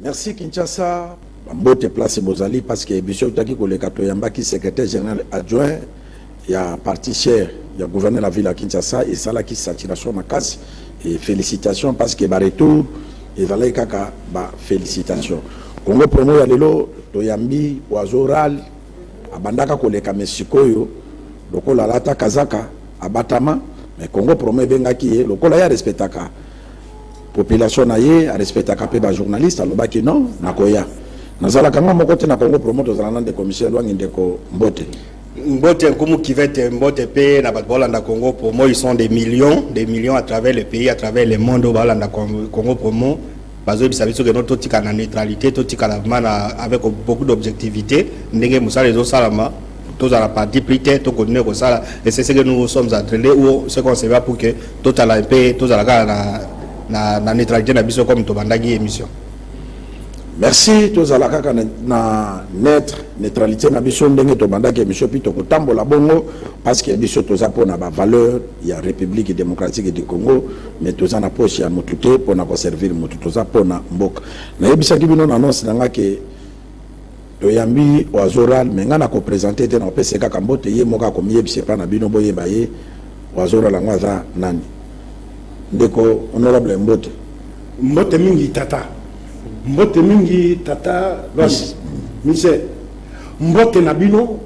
Merci Kinshasa. Mbote place bozali parce que emission tutaki koleka toyambaki secrétaire général adjoint ya parti cher ya gouverneur la ville ya Kinshasa esalaki saturation makasi et félicitations parce que ba retour ezalaki kaka ba félicitations Congo promo ya lelo toyambi oiseau rale abandaka koleka mais sikoyo lokola alata kazaka abatama mais Congo promo ebengaki ye lokola ye arespectaka population na ye a respectaka pe ba journaliste alobaki non nakoya nazalaka nga moko te na congo promote ozala na ndeko michel wangi ndeko mbote mbote nkumu kivete mbote pe na bato baolanda congo promo ils sont des millions des millions à travers le pays à travers le monde oyo baolanda congo promo bazoyebisa biso keno totikala na neutralité totikala vraiment avec beaucoup d'objectivité ndenge mosala ezosalama tozala parti pris te to continuer kosala et c'est ce que nous sommes en train de ou ce qu'on se va pour que totala mpe tozala kaka na, na, na neutralité na biso comme tobandaki émission merci tozala kaka na, na neutre neutralité na biso ndenge tobandaki émission mpi tokotambola bongo parce que biso toza mpo na bavaleur ya république démocratique du congo mais toza na poche ya motu te mpo na koservir motu toza mpo na mboka nayebisaki bino na annonce na ngai ke Toyambi Wazoral mais nga nako presenter te nako pesa ye kaka mbote ye moko ako miyebisa epa na bino boyeba ye Wazoral yango aza nani? Ndeko honorable mbote. Mbote mingi tata. Mbote mingi tata Loise. Mise. Mbote na bino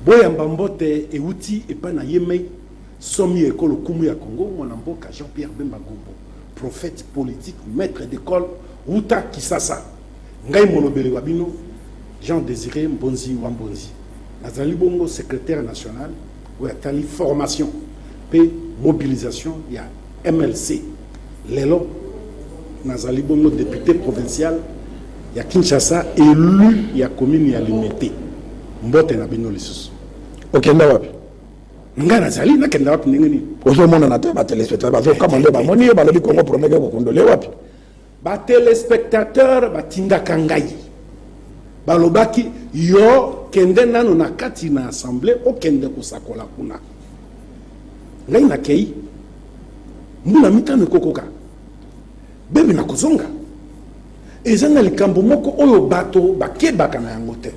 boyamba mbote ewuti epa na ye mei somi eko lokumu ya Congo mwana mboka Jean Pierre Bemba Gombo prophète politique maitre d'ecole wuta Kisasa. Ngai molobeli wa bino Jean Desire Mbonzi wa Mbonzi, nazali bongo secretaire national oyo atali formation mpe mobilisation ya MLC. Lelo nazali bongo depute provincial ya Kinshasa, elu ya commune ya Limete. Mbote na bino lisusu. Okenda wapi? ngai nazali nakenda wapi ndenge nini ozomonana te batelespectateur bazokama nde bamoni yo balobi kongo promeke kokundole wapi Ba telespectateurs batindaka ngai, balobaki yo kende nanu na kati na assemblee okende kosakola kuna. Ngai nakei, mbula mitano ekokoka, bebe nakozonga. Eza na likambo moko oyo bato bakebaka na yango te,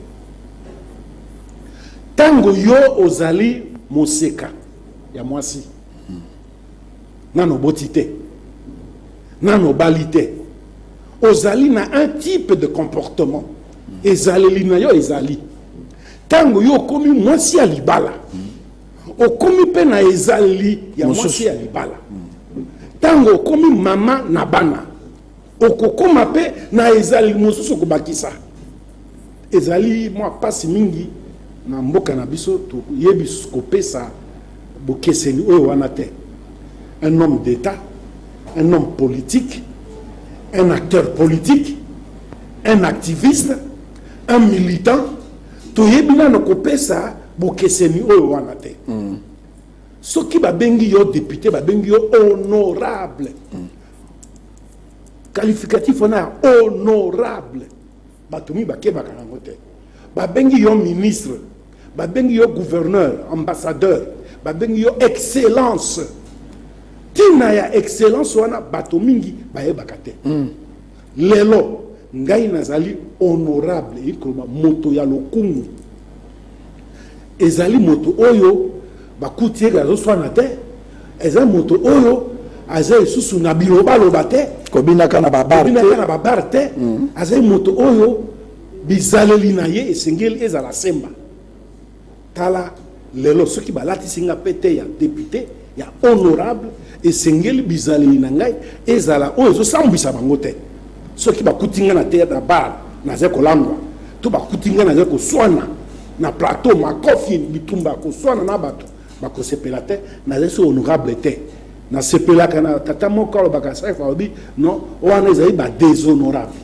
tango yo ozali moseka ya mwasi, nano oboti te nano obali te ozali na un type de comportement ezaleli na yo ezali ntango yo okomi mwasi ya libala okomi mpe na ezaleli ya mwasi ya libala ntango okomi mama na bana Okokoma mpe na ezaleli mosusu kobakisa. Ezali mwa mpasi mingi na mboka na biso toyebi kopesa bokeseni oyo wana te. Un homme d'État, un homme politique, un acteur politique, un activiste, un militant, toyebi nano kopesa bokeseni oyo wana te. Mm. Soki babengi yo député, babengi yo honorable. Mm. Qualificatif wana ya honorable bato mingi bakebaka nango te. Babengi yo ministre, babengi yo gouverneur, ambassadeur, babengi yo excellence. Ntina ya excellence wana bato mingi bayebaka te. Mm. Lelo, ngai nazali honorable, elingi koloba moto ya lokumu. Ezali moto oyo bakuti ye azoswana te, ezali moto oyo aza lisusu na bilobaloba te, kobinaka na babar kobinaka na babar te, mm. azali moto oyo bizaleli na ye esengeli ezala semba. Tala lelo soki balatisi nga pete ya depute ya honorable esengeli bizaleli na ngai ezala oyo ezosambwisa bango te soki bakuti nga na theatre na bar nazali kolangwa to bakuti nga nazali koswana na plateau makofi bitumba koswana na bato bakosepela te nazali so honorable te nasepelaka na tata moko alobaka srf alobi non wana ezali badéshonorable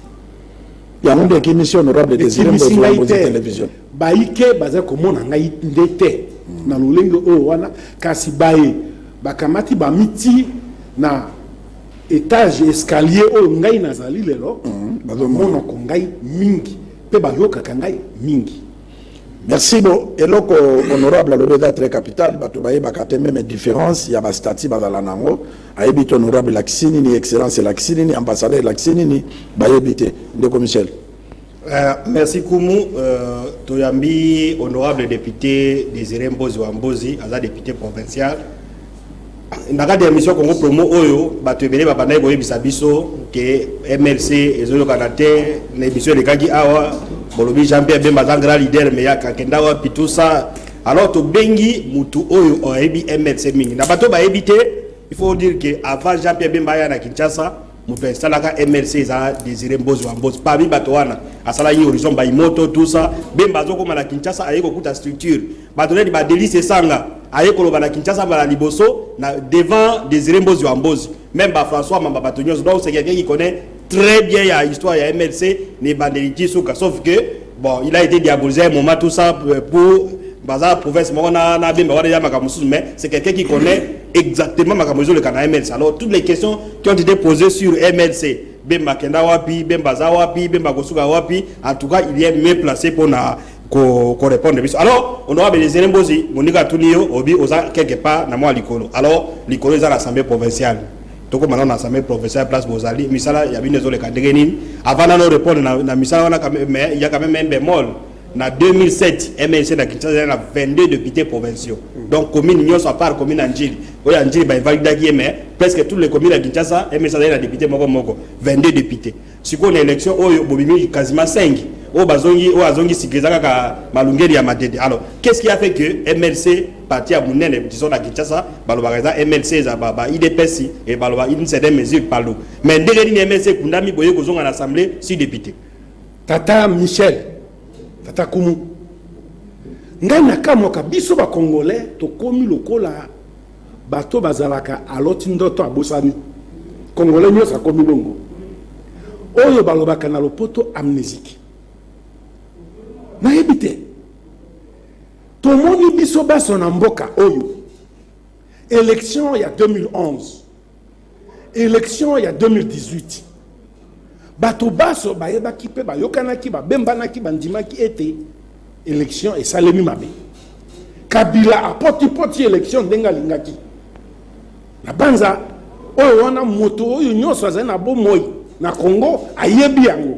yango nde ekimisi honorable désiré mbozo ya télévision Baike bazali komona ngai nde te na lolenge oyo wana, kasi baye bakamati bamitii na etage, escalier, oyo ngai nazali lelo, bamonaka ngai mingi mpe bayokaka ngai mingi. Merci bo eloko honorable alobi eza très capital bato bayebaka te meme différence ya bastati bazala na yango ayebi te honorable elakisi nini excellence elakisi nini ambassadeur elakisi nini bayebi te ndeko michel Euh, merci Kumu. Euh, Toyambi, honorable député Désiré Mbozi Wambozi, aza député provincial. na kati ya émission congo promo oyo bato ebele babandaki koyebisa biso ke mlc ezoyokana te na émission elekaki awa bolobi jean pierre bemba aza grand leader me akenda wapi tout ça alors tobengi motu oyo ayebi mlc mingi na bato bayebi te il faut dire ke avant jean pierre bemba aya na kinshasa moto esalaka mlc eza desire mbozi wa mbozi parmi bato wana asala ye horizon baimoto tusa bemba azokoma na kinshasa aye kokuta structure bato neti badelis esanga aye koloba na kinshasa mbala liboso na devant desire mbozi wa mbozi meme bafrançois mamba bato nyonso donc c'est quelqu'un qui connaît très bien ya histoire ya mlc na ebandeli ti suka sauf que Bon, il a été diabolisé à un moment, tout ça euh, pour baza province moko na na bemba wana ya makambo mosusu mais c'est quelqu'un qui connaît exactement makambo ezoleka na mlc alors toutes les questions qui ont été posées sur mlc bemba kenda wapi bemba aza wapi bemba kosuka wapi en tout cas il est mieux placé mpo na korépondre biso alors honorable elezele mbozi moninga atuni yo obi oza quelque part na mwa likolo alors likolo eza na assemblée provinciale tokoma nano na assemblée provinciale place bozali misala ya bino ezoleka ndenge nini avant nano repondre na, na misala wana mais ya quand même un bémol na 2007 mnc na kinshasa ezali na 22 députés provinciaux mm. donc commune nyonso à part commune ya njili oyo ya njili bainvalidaki ye mais presque toutes les communes ya kinshasa mnc azali na député moko moko 22 députés Sikoyo na election oyo bobimi quasiment 5 oyo bazongi oyo azongi sika eza kaka malungeli ya madede alors qu'est-ce qui a fait que mlc parti ya monene disons na kinshasa balobaka eza mlc eza ba, ba idps e baloba une certaine mesure palu mais ndenge nini mlc ekundami boye kozonga na assemblée si député tata michel tata kumu ngai nakamwaka biso bacongolais tokomi lokola Bato bazalaka aloti ndoto abosani congolais nyoso akomi bongo oyo balobaka na lopoto amnesique nayebi te tomoni biso baso na mboka oyo election ya 2011 Election ya 2018 bato baso bayebaki mpe bayokanaki babembanaki bandimaki ete election esalemi mabe kabila apotipoti election ndenge alingaki na banza oyo wana moto oyo nyonso azali na bomoi na congo ayebi yango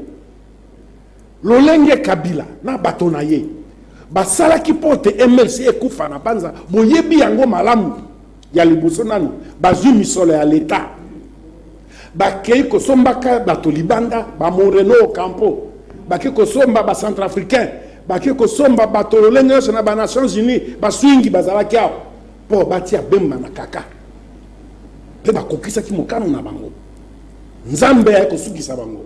Lolenge Kabila na bato na ye basalaki mpo ete mlc ekufa na Banza, boyebi yango malamu. Ya liboso nanu, bazwi misolo ya Leta, bakei kosombaka bato libanda, ba Moreno Ocampo, bake kosomba ba Centrafricains, bake kosomba bato lolenge nyonso na ba Nations Unies, ba Swingi bazalaki awa mpo batia Bemba na kaka mpe bakokisaki mokano na bango. Nzambe aye kosukisa bango.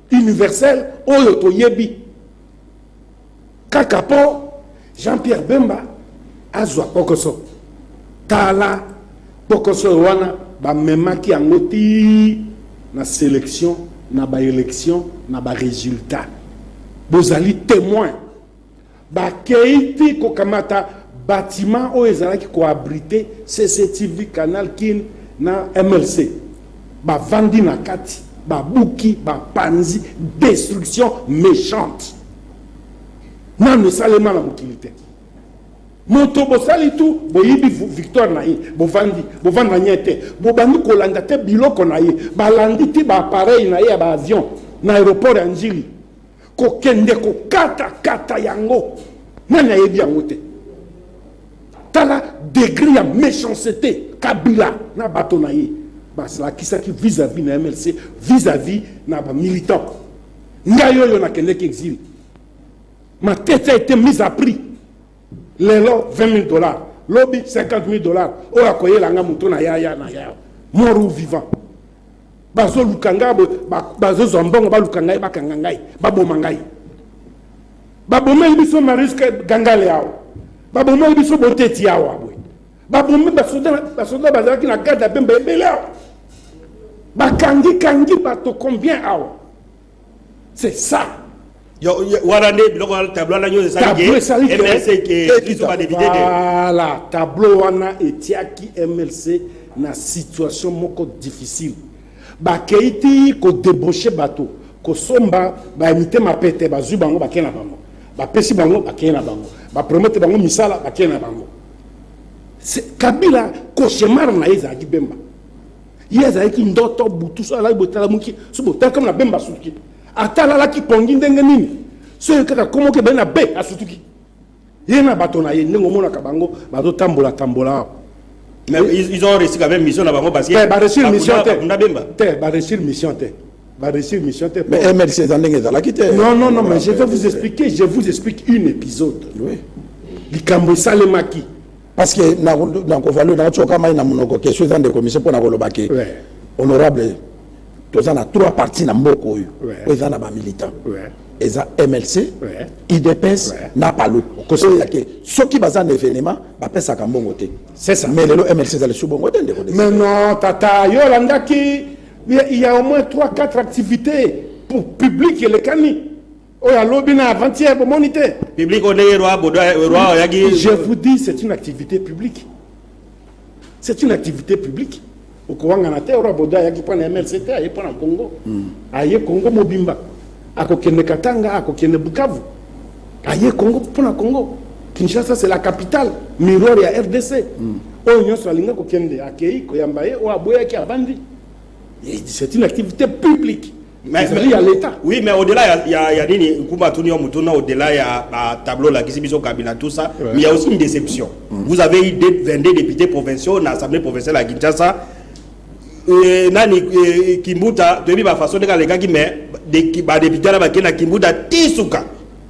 universel oyo toyebi kaka po jean pierre bemba azwa kpokoso tala kpokoso oyo wana bamemaki yango ti na selection na baélection na baresultat bozali témoin Bakei ti kokamata batiment oyo ezalaki ko abriter CCTV, Canal Kin na MLC. Bavandi na kati, babuki, bapanzi, destruction mechante. Nanu esalema na mokili te. moto bosali tu boyibi victoire na ye bovandi bovanda nye te bobandi kolanda te biloko na ye balandi ti baapareil na ye ya baavion na aéroport ya njili Kokende kokata kata yango nani ayebi yango te tala degre ya méchancete kabila na bato na ye basalakisaki vis-à-vis na mlc vis-à-vis na bamilitant ngai oyo nakendeki exile ma tete a été mise à prix lelo 20 000 dollars lobi 50 000 dollars oyo akoyela nga moto na yaya na yaya mort ou vivant bazoluka ngai bazozwa mbongo baluka ngai bakanga ngai baboma ngai babomeli biso mariske gangale awa babomeli biso boteti awa boye babomi basoda bazalaki na garde ya bemba ebele awa bakangi kangi bato combien awa c'est ça wana nde biloko wana tableau wana nyonso esalaki mlc ekiso badepite te voilà tableau wana etiaki mlc na situation moko difficile bakei ti kodebauche bato kosomba bayamite mapete bazwi bango bakei na bango bapesi bango bakei na bango bapromete bango misala bakei na bango kabila koshemar na ye ezalaki bemba ye azalaki ndoto butu so alaki botalamuki so botali kama na bemba asutuki ata alalaki pongi ndenge nini soki kaka komoki ebali na be asutuki ye na bato na ye ndenge omonaka bango bazotambola tambola awa Mais ils, ils ont réussi quand même mission na bango parce que te baresir mission te bakunda bemba te baresir mission te baresir mission te Mais MLC eza ndenge ezalaki te. non non non mais je vais vous expliquer je vous explique une épisode Oui. likambo esalemaki parce que na kovalu na tsoka mai na munoko question eza ndeko mise mpo na koloba ke honorable toza na trois parti na mboka oyo oyo eza na bamilitant eza mlc idps na palu okosoya ke soki baza na événement bapesaka mbongo te mais lelo mlc eza lisu bongo te ndeko mais non tata yo olandaki il y a au moins 3 4 activités pour public elekani oyo alobi na avant-hier bomoni te public oyo ndenge roi bodo roi oyaki je vous dis c'est une activité publique c'est une activité publique okowangana te roi bodo ayaki mpo na mlc te aye mpo na congo hmm. aye congo mobimba akokende katanga akokende bukavu aye congo mpo na congo kinshasa c'est la capitale miroir ya rdc hmm. oyo nyonso alinga kokende akei koyamba ye oyo aboyaki avandi c'est une activité publique Mais, mais, ya leta oui mais au-delà ya, ya, ya nini nkumba atuni yo motuna au-delà ya batableau olakisi biso kabila tout ça ouais. mais ya aussi une déception mm. vous avez eu 22 députés provinciaux na assemblée provinciale ya kinshasa euh, nani euh, kimbuta toyebi bafaçon ndenge alekaki mais badepute wana bakei na kimbuta ti suka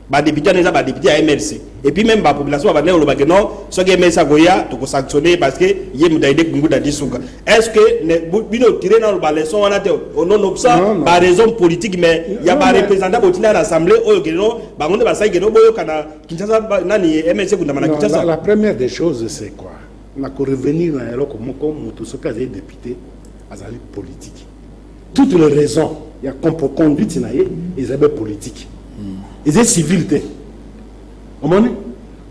ba député wana eza ba député ya mlc et puis même ba population babandaki koloba ke non soki mlc akoya tokosanctionne parce que ye moto ayede kunguda di suka est ce que bino otire nano baleçon wana te ononobsa baraison politique mais ya bareprésentant botinda na assemblée oyo ke no bango nde basali ke no boyoka na kinshasa nani mlc ekundama na kinshasa la première des choses c'est quoi na korevenir na eloko moko moto soki azali député azali politique Toutes les raisons ya contre conduite na ye eza be politique eza civil te omoni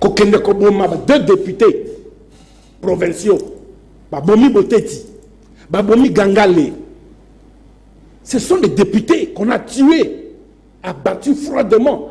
kokende koboma ba deux députés provinciaux babomi boteti babomi gangale ce sont des députés qu'on a tués abattus froidement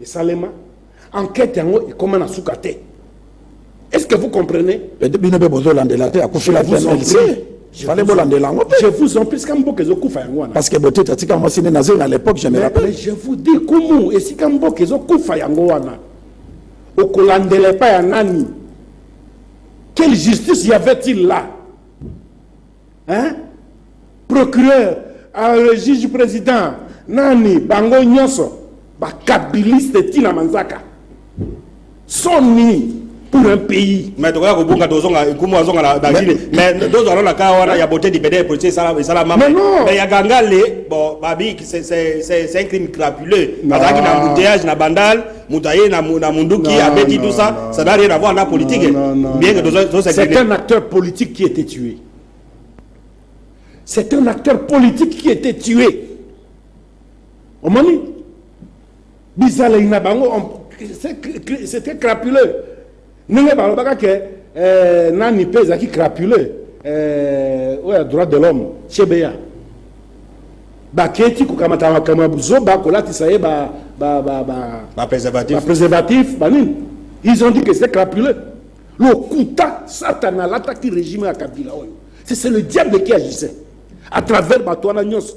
esalema enquête yango ekoma na suka te est ce que vous comprenez bino mpe bozolandela te akufila te mlc fale bolandela yango je vous en prie sika mboka ezokufa yango wana parce que botete atika mwasi nde nazeli na l'époque je me rappelle je vous dis kumu esika mboka ezokufa yango wana okolandela epai ya nani quelle justice y avait-il là hein procureur euh, juge président nani bango nyonso bakabiliste ti na manzaka soni pour un pays mais tokoya kobunga tozonga nkumu azonga na bagine mais tozwa lona ka wana ya bote libede ya politique esalama mais ya gangale bon babi c'est un crime crapuleux azalaki na embouteillage na bandal moto aye na munduki non, abeti non, tout ça non, ça n'a rien à voir na politique non, non, bien que tozo c'est un acteur politique qui était tué c'est un acteur politique qui était tué omoni bizaleli na bango c'était crapuleux Ndenge balobaka ke eh, nani pe ezalaki crapule eh, oyo ya droit de l'homme chebeya baketi kokamata makambo ya buzoba kolatisa ye ba, ba, ba, ba, ba preservatif, ba preservatif banini ils ont dit que c'est crapule lokuta satana alataki régime ya kabila oyo c'est le diable qui agissait à travers bato wana nyonso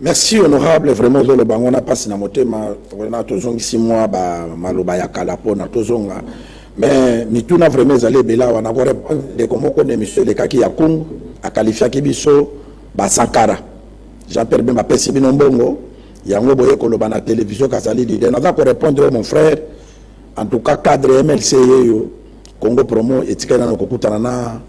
Merci honorable vraiment ozoloba yango na mpasi na motema vraimen tozongisi mwa bamaloba ya kala mpona tozonga mais mituna vraimen ezali ebele awa na korepondre ndeko moko na emission elekaki ya kungu akalifiaki biso basankara jean pierre bemba apesi bino mbongo yango boye koloba na televizio kazali lide naza korepondre yo mon frère en tout cas cadre mlc yeyo congo promo etikali nano kokutana na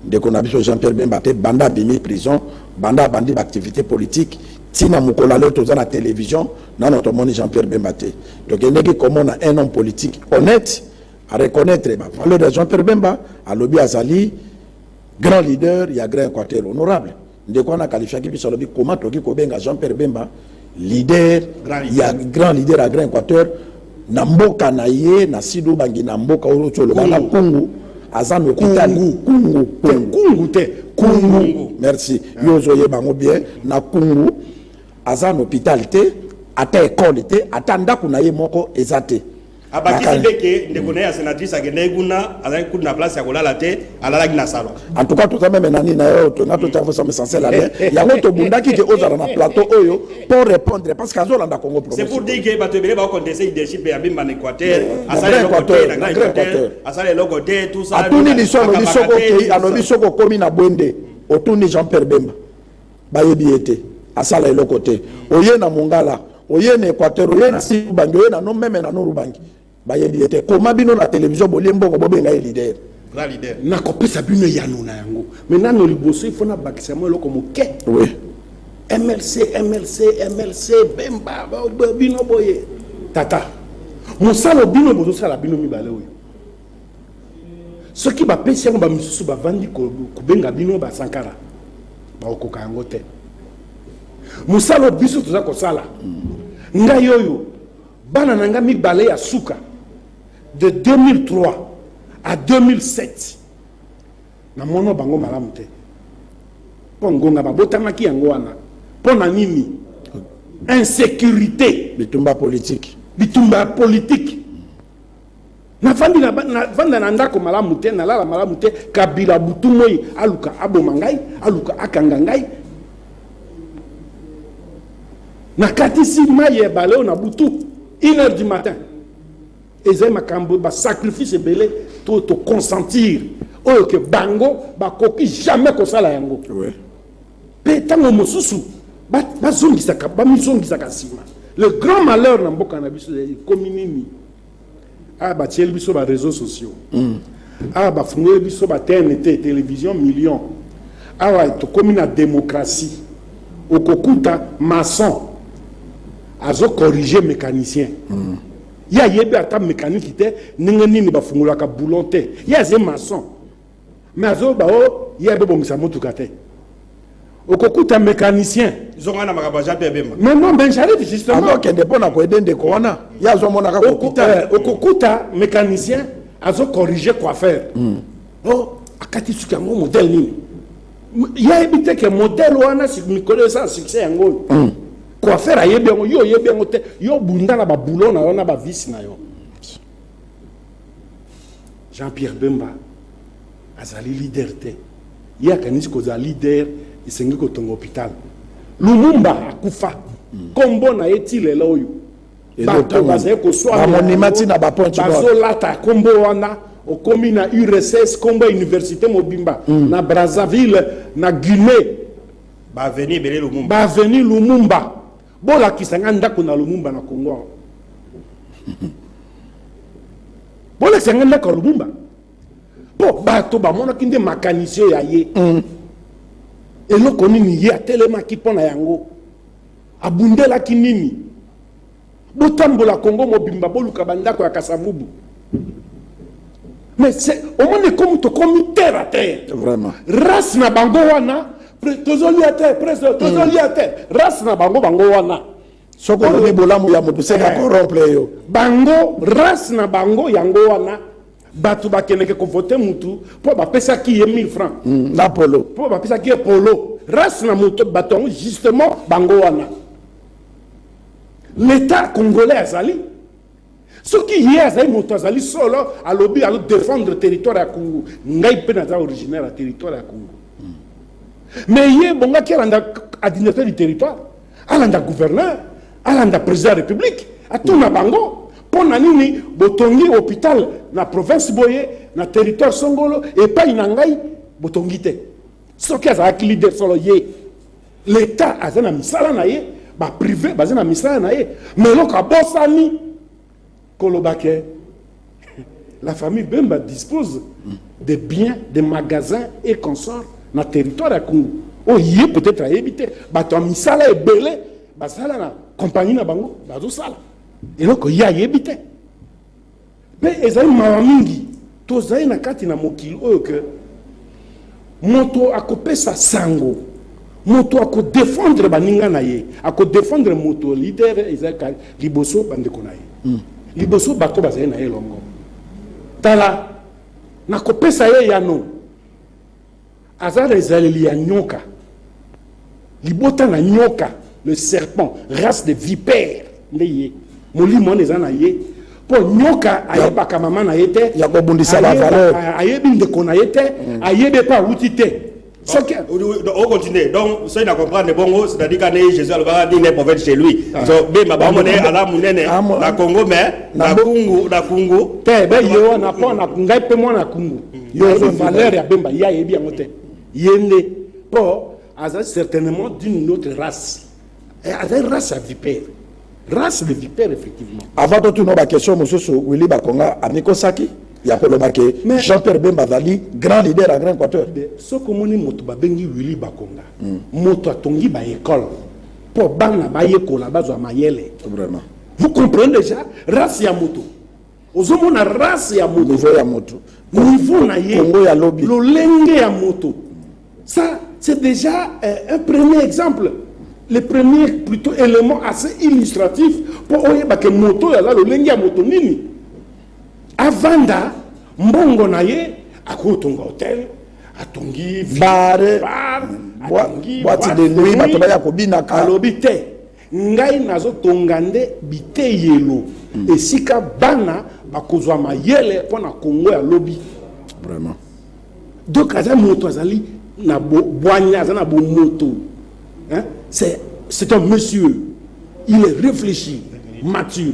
Ndeko na biso Jean Pierre Bemba pe banda abimi prison, banda abandi ba activites politiques ti na mokolo ya lelo toza na television nano tomoni Jean Pierre Bemba te. Tokendeki komona un homme politique honnete a reconnaitre ba valeurs ya Jean Pierre Bemba, alobi azali grand leader ya grand equateur honorable. Ndeko wana akalifiaki biso alobi koma toki kobenga Jean Pierre Bemba leader ya grand leader ya Grand Equateur na mboka na ye na Sido Bangi na mboka oyo tsholoba na Kungu aza na hôpital Kungu Kungu te Kungu merci ah. yo ozo yeba ngo bien na Kungu aza na hôpital te ata école te ata ndako na ye moko eza te abakisi mpe ke ndeko na ye ya senatrice akendaki kuna azalaki kutu na place ya kolala te alalaki na salon en tout cas toza meme nani na yo tona totango somme essentiel ya bien yango tobundaki ke ozala na plateau oyo mpo répondre parce que azolanda congo c'est pour dire que bato ebele bakonteste leadership ya bimba na équateur asala eloko te na grand équateur asala eloko te tout ça atuni liso alobi soko okei alobi soko okomi na bwende otuni jean pierre bemba Bayebi ye te. Asala eloko te. Oye na Mongala, oye na Equateur, oye na Sud Ubangi, oye na no meme na Nord Ubangi. Bayebi ye te. Comment bino na television bolie mbongo bobenga ye leader? Grand leader. Nakopesa bino eyano na yango. Mais nano liboso il faut nabakisa mwa eloko moke. Oui. MLC, MLC, MLC, Bemba, bino boye. Tata, mosala bino bozosala bino mibale oyo. soki bapesi yango bamisusu bavandi kobenga bino basankara bakokoka yango te mosala biso toza kosala ngai oyo bana na ngai mibale ya suka de 2003 à 2007 na mwana bango malamu te mpo ngonga babotamaki yango wana mpo na nini insécurité bitumba politiki bitumba politiki navandi navanda na ndako malamu te nalala malamu te kabila butu moi aluka aboma ngai aluka akanga ngai nakatisi mai ya ebale oyo na butu une heure du matin ezali makambo basacrifice ebele to toconsentir oyo ke bango bakoki jamais kosala yango mpe ntango mosusu bazongisaka bamizongisaka nsima le grand malheur na mboka na biso ekomi nini Awa batieli biso ba reseaux sociaux. Mm. Awa bafungoli biso ba TNT, television million. Awa tokomi na demokrasi. Okokuta maçon azo corriger mécanicien. Mm. Ye ayebi ata mécanique te, ndenge nini bafungolaka boulon te. Ye aze maçon. Mais azoba o oh, ye abobongisa motuka te okokuta mécanicien zonga na makambo aja mpe ebemba mais non mais j'arrive justement azokende mpo na koyede ndeko wana ye azomonaka kokuta okokuta eh, mécanicien azocorrige coiffeur hmm. o oh, akati suki yango modèle nini ye ayebi te ke modèle wana mikolo eza succès yango oyo hmm. coiffeur ayebi yango yo oyebi yango te yo obunda na baboulon na yo na bavisi na yo Jean Pierre Bemba azali leader te ye akanisi kozala leader esengi kotonga hopital lumumba akufa nkombo na ye ti lelo oyo bato bazali koswamonima ntina bazolata nkombo wana okomi na urss nkombo ya université mobimba mm. na brazzaville na guinée baaveni ebele lumumba baaveni lumumba Bolakisa nga ndako na Lumumba na Congo awa. Bolakisa nga ndako ya Lumumba. Po bato bamonaki nde makanisio ya ye. Mm. Eloko nini ye atelemaki mpo na yango? Abundelaki nini? Botambola Congo mobimba boluka bandako ya Kasavubu. mais c'est omoni ekomi tokomi terre à terre vraiment race na bango wana tozolia te presque mm. tozolia te race na bango bango wana soki olobi bolamu ya moto seka eh. corrompre yo bango race na bango yango wana bato bakendeke kovote motu mpo bapesaki ye 1000 francs mm, na polo mpo bapesaki ye polo race na moto bato yango justement bango wana l'état congolais azali Soki ye azali moto azali solo alobi azo defendre territoire ya Congo, ngai mpe naza originaire ya territoire ya Congo. Mais ye bongaki alanda administrateur du territoire, alanda gouverneur, alanda président ya république, atuna bango mpo na nini botongi hôpital na province boye na territoire songolo epai na ngai botongi te. Soki azalaki leader solo ye L'etat aza na misala na ye, ba prive baza na misala na ye, mais eloko abosani koloba ke la famille Bemba dispose des biens, des magasins et consorts na territoire ya Kungu oyo ye peut-être ayebi te, bato ya misala ebele basala na compagnie na bango bazosala eloko ye ayebi te. Mpe ezali mawa mingi tozali na kati na mokili oyo ke moto akopesa sango moto akodefendre baninga na ye akodefendre moto lider ezalaka liboso bandeko na ye hmm. liboso bato bazali na ye elongo tala nakopesa ye yano Aza na ezaleli ya nyoka. Libota na nyoka, le serpent, race de vipère nde ye. Molimo wana eza na ye. Po nyoka ayebaka mama na ye te. Ya kobundisa ba valeur. Ayebi ndeko na ye te, mm. ayebi pa wuti te. soki okontinue donc soki na comprendre bongo c'est-à-dire kane jésus alobaka nini ne prophète chez lui ah. so bemba bango ne ala monene ah, na congo mais na kungu na kungu te be ye wana mpo na ngai mpe mwana kungu yo ozo valeur ya bemba ye ayebi yango te ye nde mpo aza certainement d'une autre race eh, aza race ya vipere race de vipere effectivement avant totuna baquestion mosusu willi bakonga amikosaki ya koloba ke jean pierre bemba azali grand leader ya grand équateur soki omoni moto babengi willi bakonga hmm. moto atongi baekole mpo bana bayekola bazwa mayele vous comprenez déjà race ya moto ozomona race ya moto niveau ya moto niveau na ye kongo ya lobi lolenge ya moto ça c'est déjà euh, un premier exemple le premier plutôt élément assez illustratif mpo oyeba ke moto oyo aza lolenge ya moto nini avanda mbongo na ye akotonga hotel atongi bare boite de nuit bato baya kobinaka alobi te Ngai nazotonga nde biteyelo esika bana bakozwa mayele mpo na Congo ya lobi. Vraiment. Donc aza moto azali na bwanya, aza na bomoto. C'est un monsieur. Il est réfléchi, mature.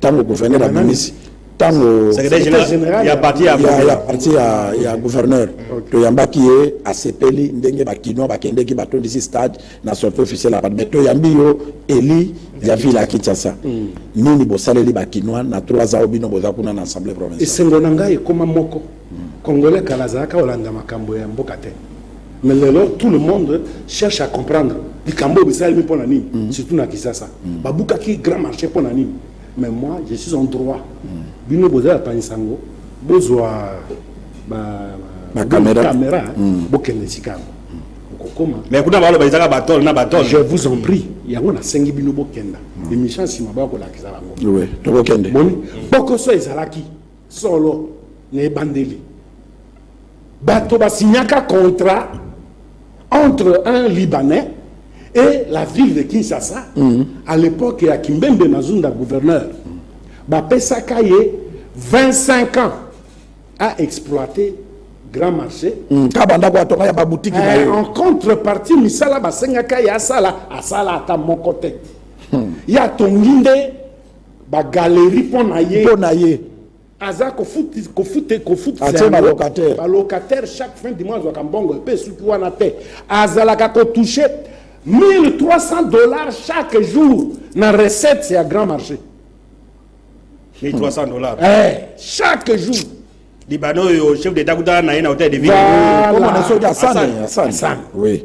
tango gouverneur abimisi tango ya parti ya, ya gouverneur okay. toyambaki ye asepeli ndenge bakinois bakendeki batondisi stade na sorti officiel ya mais toyambi yo eli ya ville ya kinshasa mm. nini bosaleli bakinois na 3 ans bino boza kuna na assemblée provinciale esengo na ngai ekoma moko Congolais kala azalaka kolanda makambo ya mboka te mais lelo tout le monde cherche à comprendre likambo oyo bisalemi mpo na nini mm. surtout na kisasa mm. babukaki grand marché mpo na nini mais moi je suis en droit mm. bino bozala panisa yango bozwa bakamera bokende esika yango okokoma mais kuna baloba ezaka batole na batole je vous en prie yango nasengi bino bokenda émission nsima bakolakisa bango tokokende boni bokoso ezalaki Solo, na ebandeli, bato ba signaka contrat entre un Libanais et la ville de Kinshasa mm -hmm. à l'époque ya Kimbembe Mazunda gouverneur bapesaka ye 25 ans à exploiter grand marché mm. kabanda ko atonga ya babutiki na ye eh, en contrepartie misala basengaka ye asala asala ata moko te hmm. ye atongi nde Ba galeries mpo na ye. Mpo na ye. Aza kofuti kofuti kofuti. Atie ba locataires. Ba locataires chaque fin du mois azwaka mbongo mpe esuki wana te. Azalaka ko toucher 1300 dollars chaque jour na recette ya grand marché. 1300 dollars. Eh, chaque jour. Libano oyo chef d'etat kuta na ye na hotel de ville. Voilà. Comme on a sauté à Sane. À Sane. Oui.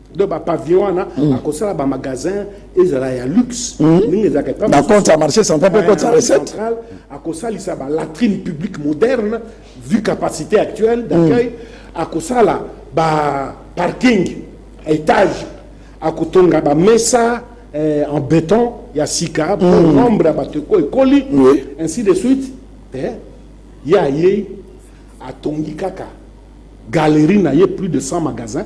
donc ba pavillon wana mm. akosala ba magasin ezala ya luxe mm. ndenge ezalaka epa na compte ya marché central mpe compte ya recette akosalisa ba latrine publique moderne vu capacité actuelle d'accueil mm. akosala ba parking étage akotonga ba mesa eh, en béton ya sika mpo mm. nombre ya bato eko ekoli oui. ainsi de suite eh, ye ayei atongi kaka Galerie na ye plus de 100 magasins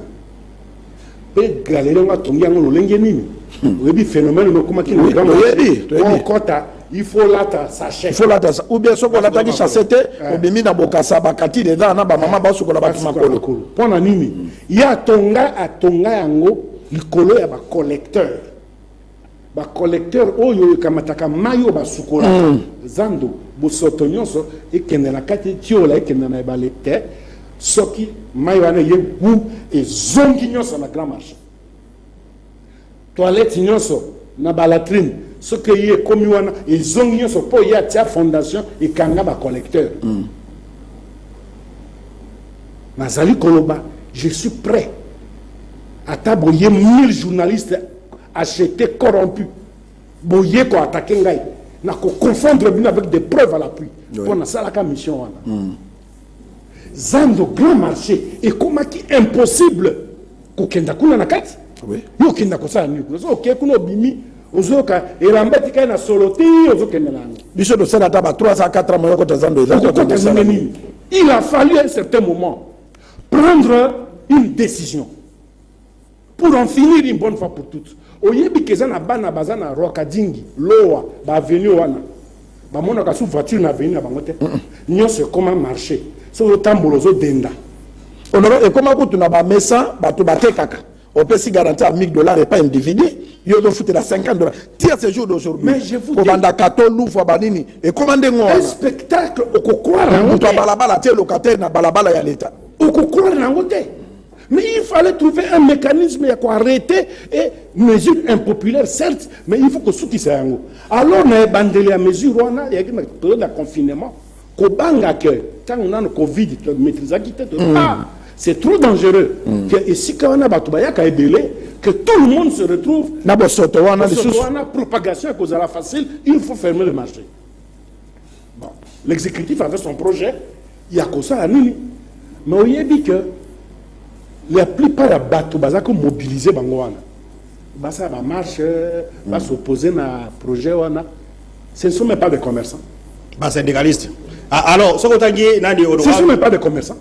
pe galerie yango atongi yango lolenge nini hmm. oyebi phénomène okomaki na grand oyebi okota il faut lata sachet il faut lata ou bien soki olataki chasse te eh. obimi na bokasa bakati dedans na bamama baosukola bato makolo mpo na nini ye atonga atonga yango likolo ya bacollecteur Ba collecteurs oyo ekamataka mayi oyo basukolaka zando, bosoto nionso ekende na kati, etiola ekende na ebale te, soki mayi wana eye gout ezongi nionso na grand marche. Toilette nionso na ba latrine soki eye ekomi wana ezongi nionso po eye atia fondation ekanga ba collecteurs. Nazali koloba je suis pret ata boye 1000 journalistes Achete corrompu boye ko attaquer ngai na ko confondre bino avec des preuves à l'appui mpo nasalaka mission wana mm. zando grand marché ekomaki impossible kokenda kuna na kati yo okenda kosala nini kuna soki okei kuna obimi ozoyoka elamba etikali na solo te ozokenda na yango biso tosala ata ba 3 a 4 moya kota zando ezakokota ndenge nini il a fallu un certain moment prendre une décision Pour en finir une bonne fois pour toutes, oyebi keza na bana baza na Rwakadingi, Lowa, ba avenue wana bamonaka sous voiture na avenue na bango te nyonso ekoma marché so ozotambola ozodenda honore ekoma kutu na bamesa bato batekaka opesi garanti ya 1000 dollars epai individu yo ozofutela 50 dollars tia ce jour d'aujourd'hui kato luvwa banini ekoma ndenge wana spectacle okokwara moto ya balabala te locataire na balabala ya leta okokwara na yango te Mais il fallait trouver un mécanisme ya ko arrêter et mesure impopulaire certes mais il faut kosukisa yango alors na ebandeli ya mesure wana eyaki na période ya confinement kobanga ke ntango nano covid maîtrisaki te mm. ah, c'est trop dangereux mm. ke esika wana bato bayaka ebele que tout le monde se retrouve na bosoto wana lisusu wana propagation ekozala facile il faut fermer le marché L'executif avait son projet ya kosala nini mais oyebi que la plupart ya bato baza komobilize bango wana basala bamarche mm. basoppose na projet wana ce ne sont même pas des commerçants basyndicaliste ah, alors soki otangi nani ce ne sont même pas des commerçants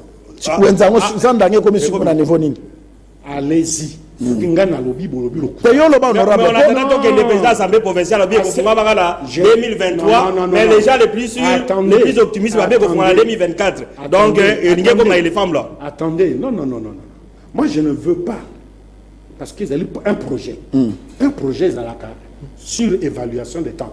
ah, wenzango ah. sandange ekomi sikoyo na niveau nini Allez-y. Soki ngai nalobi bolobi lokuta. Te yo loba honorable. Mais on attend donc le président assemblée provinciale bien kofunga banga na 2023 mais les gens les plus sûrs les plus optimistes ba bien kofunga na 2024. Donc elingi ko ma éléphant là. Attendez, non non non non. Moi je ne veux pas parce qu'ils allaient un projet. Hmm. Un projet ezalaka sur évaluation des temps.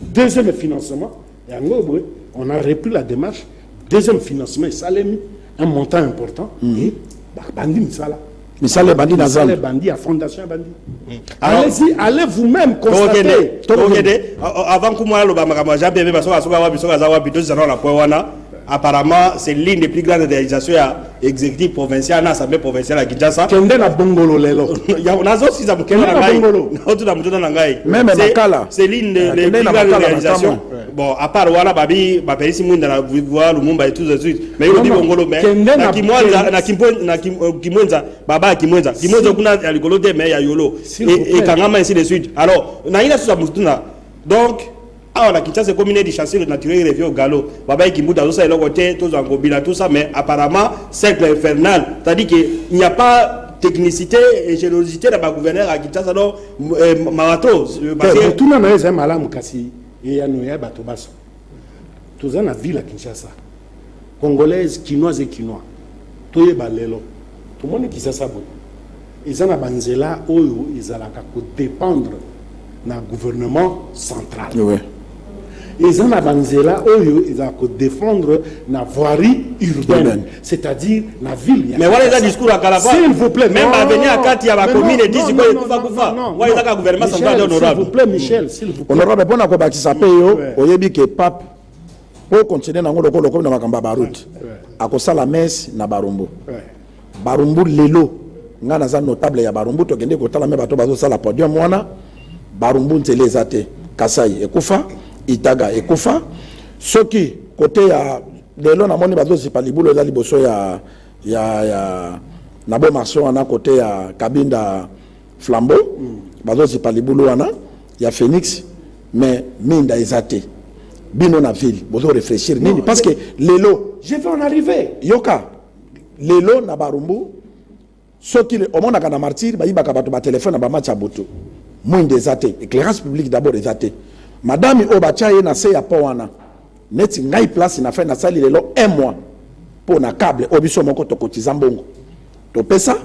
Deuxième financement, yango boye, on a repris la démarche. Deuxième financement esalemi, un montant important. Mm. Et babandi misala. Misala ebandi na zando. Misala ebandi ya fondation ebandi. Mm. Allez-y, allez vous-même constater. Tokende, avant kumwana loba makambo ya Jean Pierre Bemba soka soka wapi soka za wapi tozana na point wana. Apparemment c'est l'une des plus grandes realisations ya executif provincial na assemblée provinciale ya Kinshasa. Kende na bongolo lelo. ya nazo siza mukela na ngai. Nazo tuna mutuna na ngai. Meme makala. C'est l'une des ah, plus grandes réalisations. Bon, à part wana babi ba pelisi mwinda na Vivua Lumumba et tout de suite. Mais yo bibo ngolo mais na Kimwenza na Kimpo na euh, Kimwenza baba Kimwenza. Kimwenza kuna ya likolo te mais ya yolo. Et kangama ainsi de suite. Alors, na ina suza mutuna. Donc Awa na Kinshasa ekomi neti chasseur naturel revient au galop. Babaye Kimbuta azosa eloko te, tozwa Ngobila tout ça mais apparemment cercle infernal. C'est-à-dire que il n'y a pas technicité et générosité na ba gouverneur ya Kinshasa donc eh, marato parce que motuna na yo ezali malamu kasi eyano ya bato baso toza na ville ya Kinshasa Congolaise, kinoise et kinois toyeba lelo tomoni kisasa boye eza na ba nzela oyo ezalaka ko dependre na gouvernement central oui. eza na ba nzela oyo ezalaka ko defendre na voirie urbaine c'est-à-dire na ville ya mais wana eza discours ya kala s'il vous plaît même avenue ya kati ya ba commune et disi boye kufa kufa wana eza ka gouvernement central honorable s'il vous plaît Michel s'il vous plaît honorable pona ko bakisa pe yo oyebi que pape mpo okontinue nango lokola okomi na makambo ya baroute akosala mese na barumbu barumbu lelo ngai naza notable ya barumbu tokende kotala me bato bazosala podium wana barumbu nzela eza te kasai ekufa itaga ekufa soki kote ya lelo namoni bazozipa libulu eza liboso ya, ya, ya na bo marché wana kote ya kabinda flambeau mm. bazozipa libulu wana ya Phoenix mais minda eza te bino na ville bozo réfléchir nini parce que lelo je vais en arriver yoka lelo na barumbu soki omonaka na martyr bayibaka bato batelefone na bamatch ya butu mwinda eza te éclairage public d'abord eza te madame oyo batya ye na se ya po wana Neti ngai place na fin na sali lelo un mois mpo na cable oyo biso moko tokotiza mbongo topesa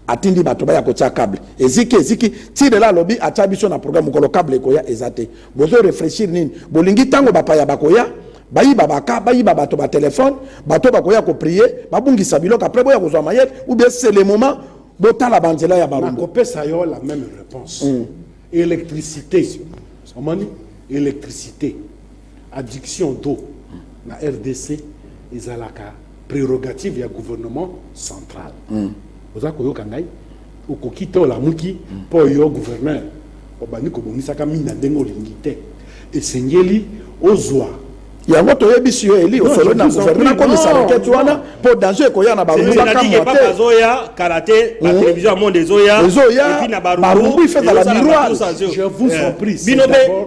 atindi bato baya kotia cable eziki eziki ti lelo alobi atia biso na programme mokolo cable ekoya eza te bozo réfléchir nini bolingi ntango bapaya bakoya bayiba baka bayiba bato batelefone bato bakoya koprie babungisa biloko apres boya kozwa mayele ou bien c'est le moment botala banzela ya barumbu nakopesa yo la même réponse mm. électricité omoni électricité Adduction d'eau na rdc ezalaka prerogative ya gouvernement central. Mm. Oza koyoka ngai? Okoki te olamuki mm. mpo mm. yo gouverneur obandi kobongisaka mina ndenge olingi te. Esengeli ozwa yango toyebisi yo eli osolo na gouvernement akomisa rakete wana mpo danger ekoya na barubakamwateezoya kala te batelevizio ya monde ezoya ezoya barumbu ifezala miroir bino mpe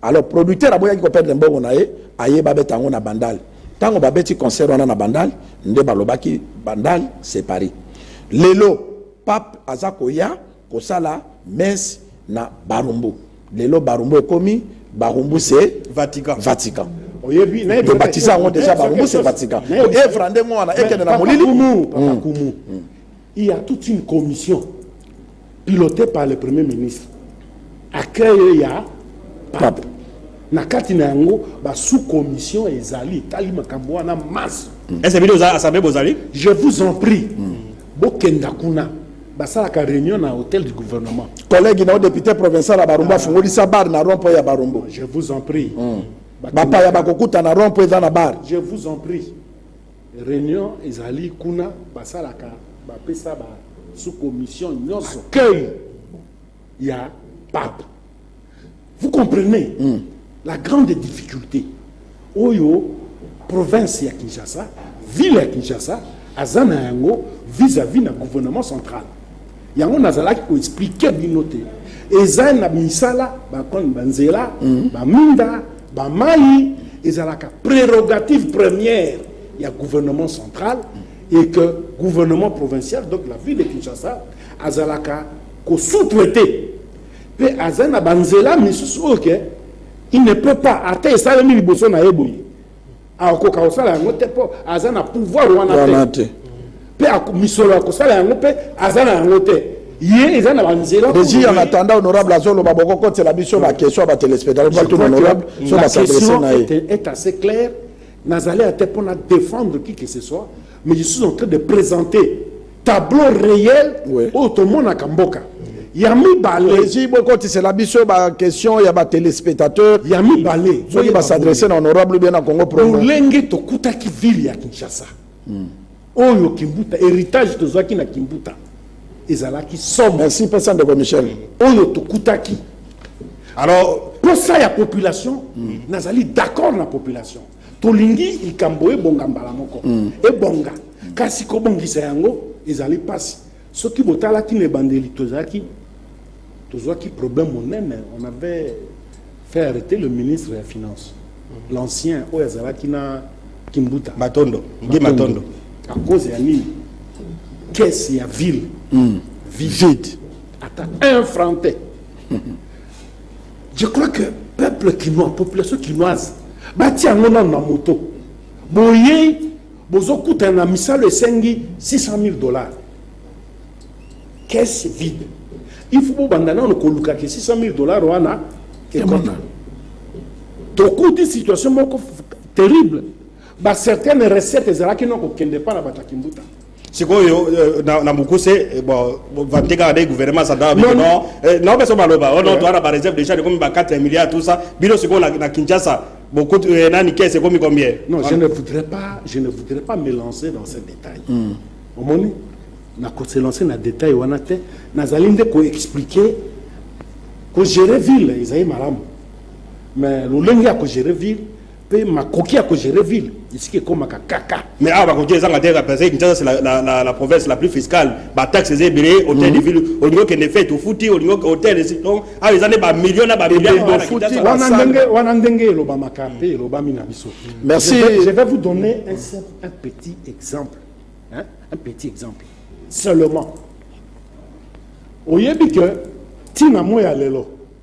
Alors producteur aboyaki ko perdre mbongo na ye, aye ba beta yango na Bandal. Tango ba beti concert wana na Bandal, nde ba lobaki Bandal c'est Paris. Lelo pape aza koya kosala messe na Barumbu. Lelo Barumbu ekomi Barumbu c'est Vatican. Vatican. oyebi nayebi To kaka baptisa yango quelque- déjà nayebi Barumbu kaka c'est quelque Vatican. chose. Nayebi- Evra ndenge wana ekende na Papa molili. Kumu, Papa Mm. Kumu. Il ya toute une commission pilotee par le premier ministre accueil ya pape na kati na yango ba sous commission ezali etali makambo wana masse ese bino oza assemblée bozali je vous en prie bokenda kuna basalaka réunion na hôtel du gouvernement collègue na yo député provincial ya barumbu afungolisa bar na rond point ya barumbu je vous en prie Bakenda- bapaya bakokutana rond point eza na bar je vous en prie Reunion ezali kuna basalaka bapesa ba sous commission nyonso accueil ya pape vous comprenez mm. la grande difficulté oyo province ya Kinshasa ville ya Kinshasa aza na yango vis-à-vis na gouvernement central yango nazalaki ko expliquer bino te eza na misala ba koni ba nzela mm. ba minda ba mayi ezalaka prérogative première ya gouvernement central mm. et que gouvernement provincial donc la ville de Kinshasa azalaka ko sous-traiter pe aza na ba nzela misusu oyo ke il ne peut pas ata esalemi liboso na ye boye akoka kosala yango te mpo aza na pouvoir wana te mpe misolo ya kosala yango mpe aza na yango te ye eza na banzela deji ya natanda honorable azoloba bokokotela biso baquestion ya batelespectateur honorable so basadrese na ye est assez claire nazali ate mpo na défendre qui que ce soit mais je suis en train de présenter tableau réel Oui. oyo tomonaka mboka ya mibale esi bokotisela biso baquestion ya batelespectateur ya mibale soki basadresse na honorable bien na congo promo lolenge tokutaki ville ya kinshasa oyo kimbuta héritage tozwaki na kimbuta ezalaki somo merci pesa ndeko michel oyo tokutaki alors posa ya population nazali d'accord na population Tolingi likambo ebonga mbala moko. Mm. Ebonga. Mm. Kasi kobongisa yango ezali pasi. Soki botalaki na ebandeli tozalaki tozwaki problème monene, on avait fait arrêter le ministre ya finance. Mm. L'ancien oyo azalaki na Kimbuta. Matondo. Ngi Matondo. À cause ya nini? Caisse ya ville. Mm. Vide. Ata un franc te. Je crois que peuple kinois, population kinoise, batia yango nano na moto. Boye bozokutana na misalo esengi 600 000 dollars. Caisse vide. Il faut bobanda nano koluka ke 600 000 dollars wana ekota. Tokuti situation moko terrible. Ba certaines recettes ezalaki noko kende pa na batakimbuta. sikoyo na mokuse vante kaka nde gouvernement santana bino non nao mpe so baloba o non toa na bareserve déjà ekomi ba 4 milliards tout ça bino sikoyo na kinshasa bokutu nani kese ekomi combien non je ne voudrais pas je ne voudrais pas me lancer dans ce détail omoni na ko se lancer na détail wana te nazali nde ko expliquer ko gérer ville ezali malamu mais lolenge ya ko gérer ville pe makoki ya ko gérer ville esika ekomaka kaka mais awa bakoki ezanga te parce que Kinshasa c'est la, la, la, la province la plus fiscale ba taxes eza ebele hôtel mm. de ville olingi okende fete ofuti olingi hôtel esi donc awa eza nde ba millions na ba millions ofuti wana ndenge wana ndenge elobamaka mpe elobami na biso merci je vais vous donner un simple un petit exemple hein? un petit exemple seulement oyebi que ntina moi ya lelo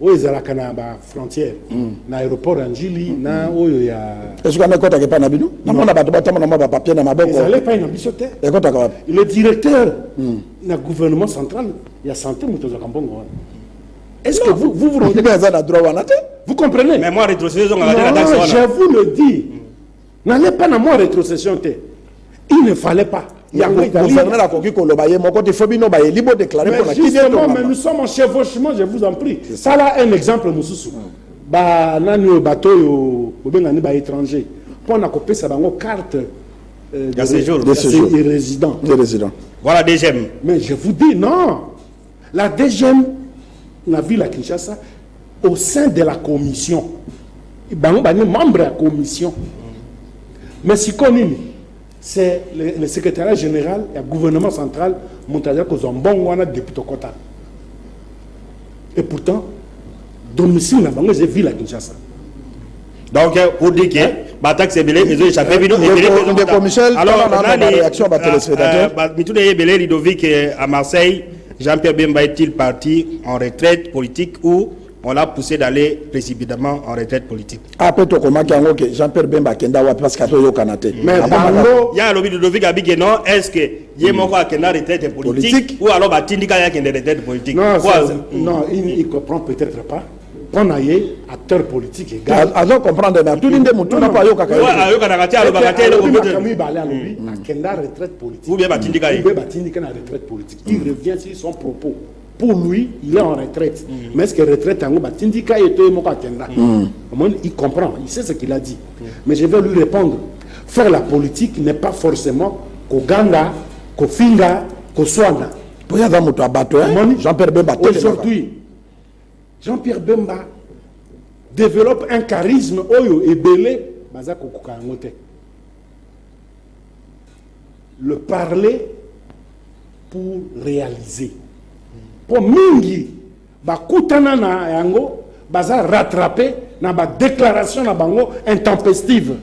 oyo ezalaka na ba frontière na aéroport ya njili na oyo ya esuki yango ekotaka epai na bino namona bato batambola mwa bapapier na maboko ezala epai na biso te ekotaka wapi le directeur na gouvernement central ya santé moto azwaka mbongo wana est ce que vous vous vous rendez aza na droit wana te vous comprenez mais moi retrocéder ezongaka te na non taxe wana je vous le dis N'allez pas na moi retrocession te. Il ne fallait pas. yango gouverneur akoki koloba ye moko te fo bino bayeli bodeklare mpona mais nous sommes en chevauchement je vous en prie sala un exemple mosusu banani oyo bato oyo bobengani baétranger mpo na kopesa bango carte euh, de séjour de résident voilà deuxième mais je vous dis non La DGM na ville ya Kinshasa au sein de la commission bango bani membre ya commission mais sikoyo nini c'est le, le secrétariat général ya gouvernement central moto azali kozwa mbongo wana depuis tokota et pourtant domicile na bango eza ville ya Kinshasa donc pour dire que bataxe ebele ezo échappe bino ndeko michel alors nani réaction ba téléspectateurs euh, mituna ye ebele ludovic euh, à marseille jean pierre bemba est-il parti en retraite politique ou on l'a poussé d'aller précipitamment en retraite politique ape tokomaki yango ke jean pierre bemba akenda wapi parce que atoyokana te ya alobi ludovic abike non est ce que ye hmm. moko akenda retraite politique ou alors batindika ye akende retraite politique non il comprend peut-être pas mpo na ye acteur politique egal azo comprendre mais atuni nde motuna mpo ayokaka ayokanaka te alobaka te eloko makambo mibale alobi mm. akenda retraite politique ou bien batindika ye mpe batindika na retraite politique il mm. revient sur son propos pour lui il est en retraite mm. mais est-ce que retraite yango batindika ye to ye moko akenda omoni il comprend il sait ce qu'il a dit mais je vais lui répondre faire la politique n'est pas forcément koganga kofinga koswana mpo ye aza moto ya bato jean pierre bemba aujourd'hui Jean Pierre Bemba developpe un charisme oyo ebele baza kokoka yango te. Le parler pour réaliser. Mpo mingi bakutana na yango baza rattrape na ba déclaration na bango intempestive.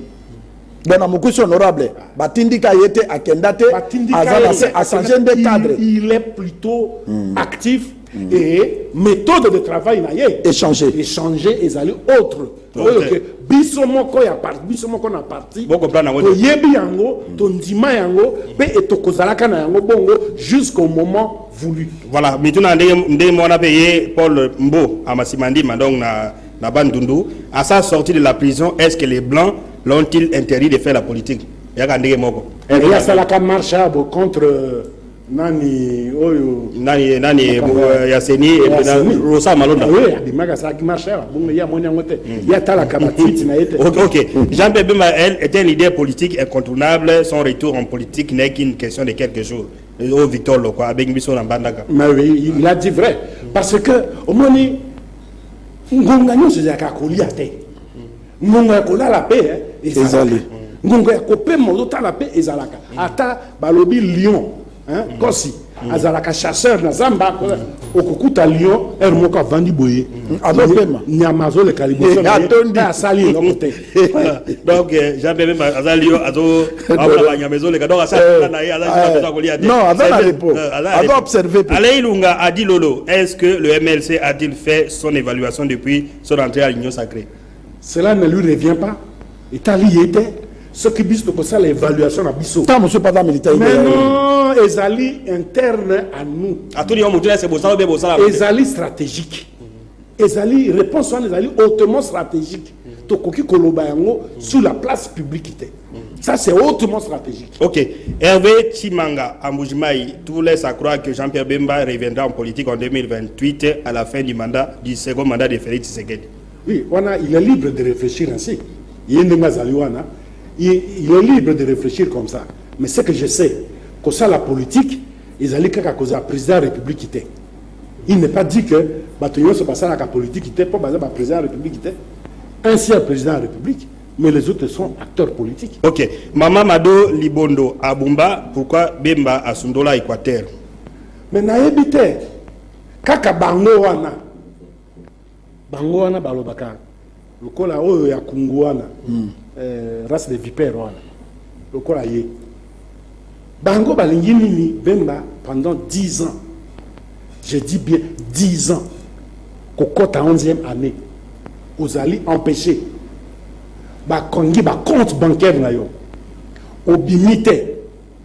Bwana Mukusi honorable batindika ye te akenda te aza na se achange nde cadre. Il est plutôt hmm. actif et methode de travail na ye échanger échanger ezali autre oyo ke biso moko ya parti biso moko na parti toyebi yango tondima yango mpe etokozalaka na yango bongo jusqu'au moment voulu voilà mituna ndenge moko na mpe ye paul mbo amasima ndima donc na na bandundu à sa sortie de la prison est ce que les blancs l'ont-ils interdit de faire la politique yaka ndenge moko eyasalaka marche abo contre euh, nani oyo nani ye nani ye euh, ya seni rosa malonda ah oui abimaka sa ki marche ba bongo ya moni yango te hmm. ya tala ka ba tweet na yete OK OK Jean Pierre Bemba elle était une idée politique incontournable son retour en politique n'est qu'une question de quelques jours au euh, oh, Victor Lokwa abengi biso na mbandaka mais oui il a dit vrai parce que omoni ngonga nyonso ezalaka kolia te Ngonga ya kolala pe ezali. Ngonga ya kopema ozotala pe ezalaka. Ata balobi lion, kosi azalaka chasseur na zamba okokuta lion heure moko avandi boye azopema nyama azoleka liboso asali eloko te donc eh, jean bebe aza lion azoaola banyama ezoleka donc asala eh, na ye aza eh, kolia te non aza na repos aza observe pe alei lunga adi lolo est ce que le mlc a-t-il fait son évaluation depuis son entrée à l'union sacrée Cela ne lui revient pas. Etali ye te. Soki biso tokosala evaluation na biso. Tant monsieur pas militaire. Mais non, ezali interne à nous. Atuli yo mutu ese bosala be bosala. Ezali stratégique. Ezali réponse wana ezali hautement stratégique. Tokoki koloba yango sur la place publique te. Ça, c'est hautement stratégique. Ok. Hervé Chimanga, à Moujimaï, tout laisse à croire que Jean-Pierre Bemba reviendra en politique en 2028 à la fin du mandat, du second mandat de Félix Tshisekedi. Oui, wana il est libre de réfléchir ainsi. Ye ndenge azali wana, il, il est libre de réfléchir comme ça. Mais ce que je sais, kosala politique ezali kaka kozala président ya république te. Il n'est pas dit que bato nyonso basalaka politique te mpo baza ba président ya république te. Un seul président ya république mais les autres sont acteurs politiques. Ok, Mama Mado Libondo Abumba, pourquoi Bemba asundola Equateur? Mais nayebi te kaka bango wana Bango wana balobaka lokola oyo ya kungu wana mm. eh, race de vipère wana lokola ye bango balingi nini bemba pendant 10 ans je dis bien 10 ans kokota 11e année ozali empêché bakongi bacompte bancaire na yo obimi te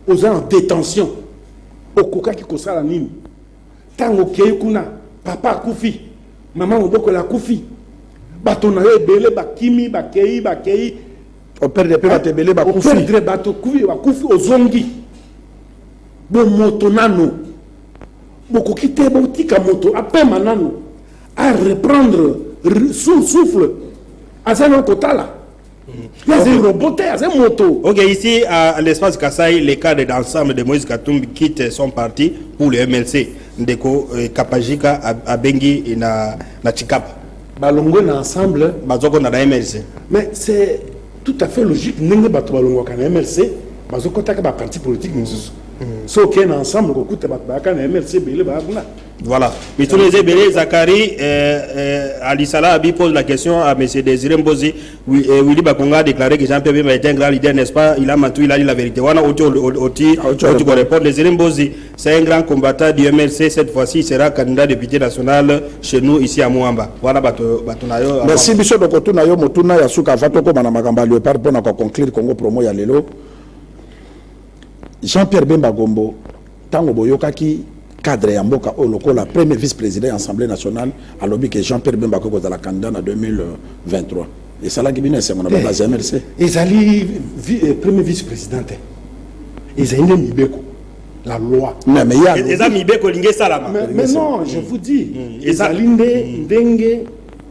oza en détention okokaki kosala nini Tango okei kuna papa akufi, maman mobokoli akufi, bato na yo ebele bakimi, bakei, bakei. O perdre pe bato ebele bakufi. O perdre bato kufi bakufi ozongi. Bo moto nano. Bokoki te botika moto apema nano. A reprendre souffle. Aza na kotala. Il y a un robot, il y a un moto. Ok, ici, à l'espace Kassai, les cadres d'ensemble de Moïse Katumbi quittent son parti pour le MLC. Ndeko euh, Kapajika à Bengi et na, na Chikapa. Balongo na ensemble. Bazoko na MLC. Mais c'est tout à fait logique. Nengue bato balongo na MLC. Bazoko taka ba parti politique misusu. Mm. So ken ensemble ko kuta bato ba kana MLC bele ba kuna. Voilà. Mituna eza ebele Zakari euh, euh, Alisala abi pose la question à monsieur Désiré Mbozi oui, euh, Willy Bakonga a déclaré que Jean-Pierre Bemba était un grand leader n'est-ce pas il a menti il a dit la vérité wana oti oti oti ko répondre Désiré Mbozi c'est un grand combattant du MLC cette fois-ci il sera candidat député national chez nous ici à Muamba wana bato bato na yo Merci biso doko tuna yo motuna ya suka va tokoma na makambo ya Léopard pona ko conclure Congo promo ya lelo Jean Pierre Bemba Gombo tango boyokaki cadre ya mboka oyo lokola premier vice président ya assemblée nationale alobi ke Jean Pierre Bemba akoki kozala candidat na 2023 esalaki bino esengo na ba base ya MLC ezali vi, eh, premier vice président te ezali nde mibeko la loi non mais ya eza mibeko elingi esalama mais, mais non je vous dis mm. ezali nde mm. ndenge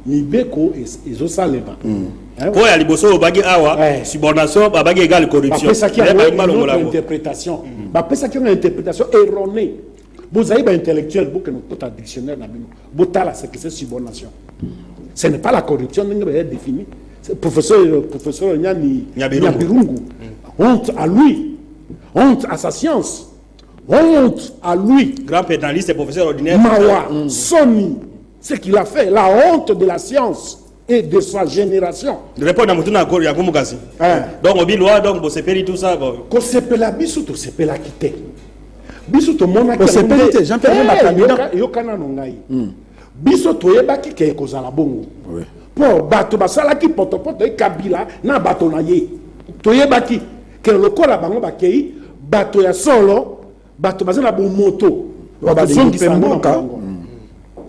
mibeko ezosalema eh po ya liboso olobaki awa eh. subordination babaki egal corruptionbapesaki yango na interprétation erronée bozali baintellectuel bokende kota dictionnaire na bino botala sekese subordination ce n'est pas la corruption ndenge baya défini professeur professeur nyani nyabirungu mm. honte à lui honte à sa science honte à lui grand pénaliste professeur ordinaire mawa mm. soni Ce qu'il a fait, la honte de la science et de sa génération. Répondre à Mutuna ya Kumukasi. Hein. Donc obi loi donc bo sepeli tout ça bon. Ko sepela biso to sepela kite. Biso to mona ko sepeli te Jean Pierre ba candidat. Yo kana no ngai. Hmm. Biso to yebaki ke ko zala bongo. Oui. Po bato basalaki potopoto e Kabila na bato na ye. To yebaki ke lokola bango bakei bato ya solo bato baza na bomoto bakozongisa mboka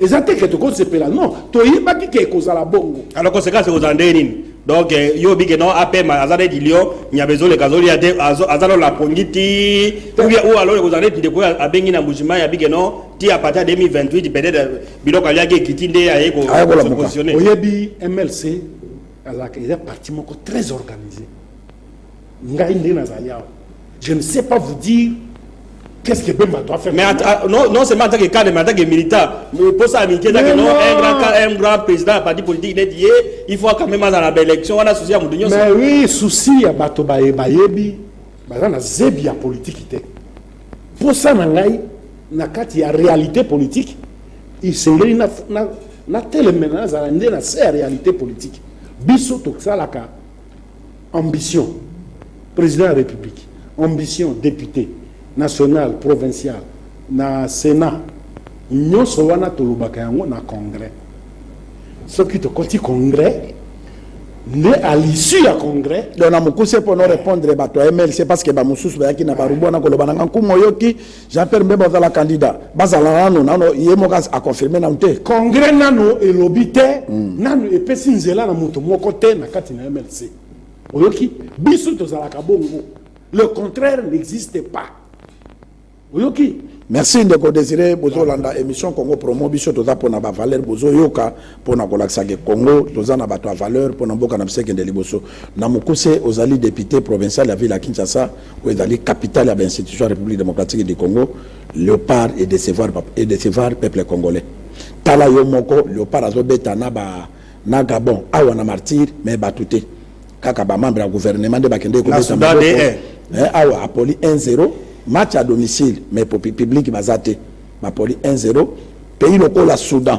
eza te ke tokozepela non toyebaki ke ekozala bongo alors conséquence ekozala ndenge nini donc eh, yo obike no apema aza neti lio nyama ezoleka azolia te aza no lapongi ti ubia oyo alole kozala neti ndeko oyo abengi na mbujima ya bike no ti apati ya 2028 peut-être eh, biloko aliaki ekiti nde aye kopositionne oyebi mlc azalaka eza parti moko très organisé Ngai nde nazali awa. Je ne sais pas vous dire Qu'est-ce que Bemba doit faire Mais att- ah, non, non seulement en tant que cadre, mais en tant que militant. Mais pour ça, Mickey, Mais que non, non. un grand, cadre, un grand président, un parti politique, il est dit, eh, il faut quand même dans la belle élection, on a souci à Moudinho. Mais oui, souci ya bato baye bayebi baza na zebi ya politiki te mposa na ngai na kati ya réalité politique esengeli na- na- natelemela nazala nde na se ya réalité politique biso tosalaka Ambition president ya republique, ambition depute national, provincial na senat nionso wana tolobaka yango na congrès. Soki tokoti congrès nde à l'issue ya congrès donc na mokuse mpo no répondre bato ya mlc parce que bamosusu bayaki na barubu wana koloba na ngai nkumu oyoki Jean Pierre Mbemba azala candidat bazala nano nano ye moko a confirmer nano te. Congrès nano elobi te mm. nano epesi nzela na moto moko te na kati na MLC. Oyoki biso tozalaka bongo. Le contraire n'existe pas. Oyoki Merci ndeko Désiré bozolanda émission Congo Promo biso toza pona ba valeur bozoyoka pona kolakisa ke Congo toza na bato ya valeur pona mboka na biso ekende liboso. Na mokuse, ozali depute provincial ya ville ya Kinshasa, oyo ezali capitale ya ba institutions ya Republique democratique du Congo. Leopard e decevoir e decevoir peuple congolais. Tala yo moko Leopard azo beta na ba na Gabon awa na martyr mais bato te. Kaka ba membres ya gouvernement nde bakendeki kobeta maboko. Awa apoli 1-0 match à domicile mais public baza te. Bapoli 1-0 pays lokola Soudan.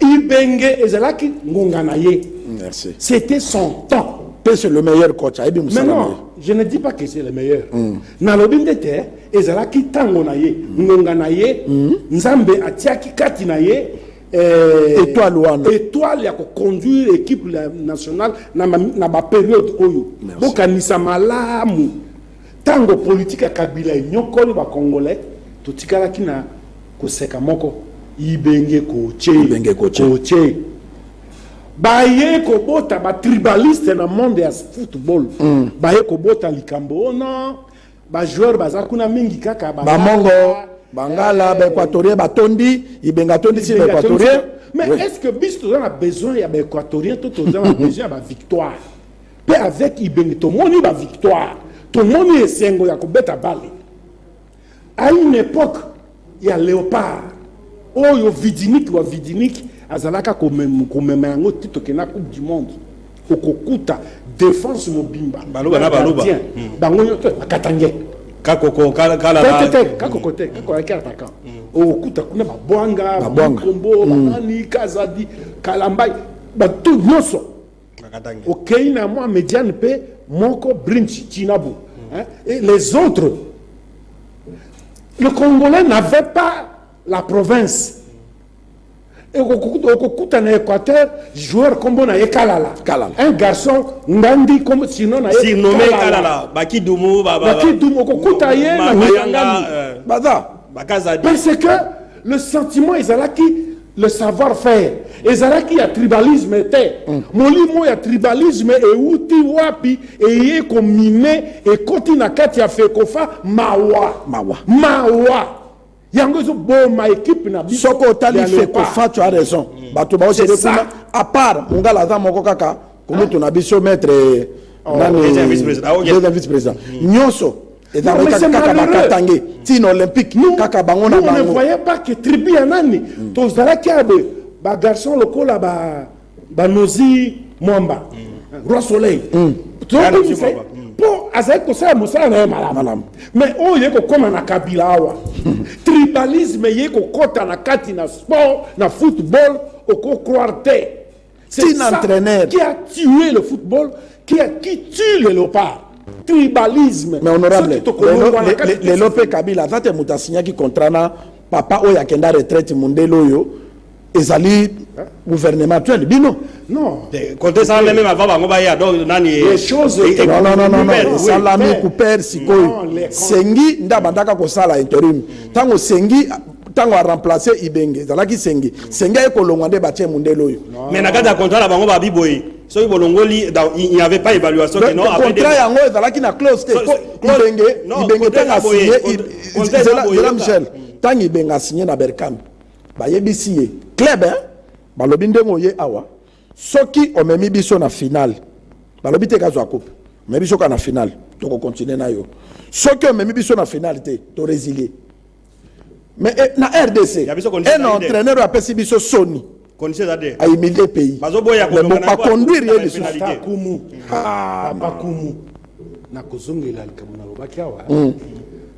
Ibenge ezalaki ngonga na ye. Merci. C'était son temps. Pe c'est le meilleur coach. Ayebi musala na ye. Non, je ne dis pas que c'est le meilleur. Mm. Nalobi nde te ezalaki tango na ye, mm. ngonga na ye, mm. Nzambe atiaki kati na ye eh, étoile wana étoile ya koconduire équipe nationale na, na baperiode oyo bokanisa malamu Tango politique ya kabila enyokoli ba congolais totikalaki na koseka moko ibenge koche ibenge koche, koche. baye kobota ba tribaliste na monde ya football mm. baye kobota likambo ona ba joueur baza kuna mingi kaka ba bamongo bangala eh, ba equatorien batondi ibenga atondisi ba equatorien mais oui. est ce que biso toza na besoin ya ba equatorien to toza na besoin ya ba victoire Pe avec ibenge tomoni ba victoire tomoni esengo ya kobeta bale a une epoque ya leopard oyo vidinique wa vidinique azalaka komema yango ti tokenda coupe du monde okokuta défense mobimba baloba na baloba hmm. bango nyoto bakatange kakoko kala kala kakoko te kakoko ayaki attaquant hmm. okokuta kuna babwanga bakombo hmm. banani kazadi kalambai bato nyonso okei na mwa mediane mpe moko brinch chinabo hein, et les autres le congolais n'avait pas la province okokuta na équateur joueur nkombo na ye kalala un garçon ngandi sino na yebakidumu okokuta ye na mayangani euh, baza parce que Le sentiment ezalaki le savoir faire ezalaki ya tribalisme te mm. molimo ya tribalisme euti wapi eye komine ekoti na kati ya fekofa mawa mawa mawa yango ezoboma ekipe na biso soki otali fekofa tu as raison mm. bato baosede kuna à part mongala aza moko kaka kulutu na biso maître oh, nani deuxième vice président ah, nyonso eza mais c'est kaka malheureux. bakatange tina olympique Nous- kaka bango na nous, on ne bango voyait pas que tribu ya nani tozalaki ya boye bagarçon lokola ba- banozi mwamba roi soleil tobimisa ye mpo azalaki kosala mosala na ye malamu Malamu. mais oyo ye kokoma na kabila awa tribalisme ye kokɔta na kati na sport na football okocroire te C'est un entraîneur qui a tué le football, qui, a, qui tue les léopards. Tribalisme. Mais honorable, les Lopé Kabila, quand il a signé qui contrat na papa oyo akenda retraite mundele oyo ezali hein? gouvernement actuel bino non kote esala meme avant bango baya donc nani esalami couper sikoyo sengi nde abandaka kosala interim ntango sengi ntango a remplace ibenge ezalaki sengi sengi aye kolongwa nde batie mundele oyo mais na kati ya contrat na bango babi boye soki bolongoli il n'y avait pas évaluation que non contrat yango ezalaki na clause te ibenge ibenge ntango asigne zela michel ntango ibenge asigne na berkam bayebisi ye club hein balobi ndenge oye awa soki omemi biso na finale balobi te kazwa coupe omemi biso kaka na finale tokokontinue na yo soki omemi biso na finale te toresilye Mais eh, na RDC, Ya biso condition un ezali te. entraîneur oyo apesi biso soni. Condition eza te. A humilier pays. Bazoboya Mais kolonga bon, na ba yango, conduire ye akozala lisusu. penalty. Tata Kumu. Ah, Papa Kumu. Nakozongela likambo nalobaki awa.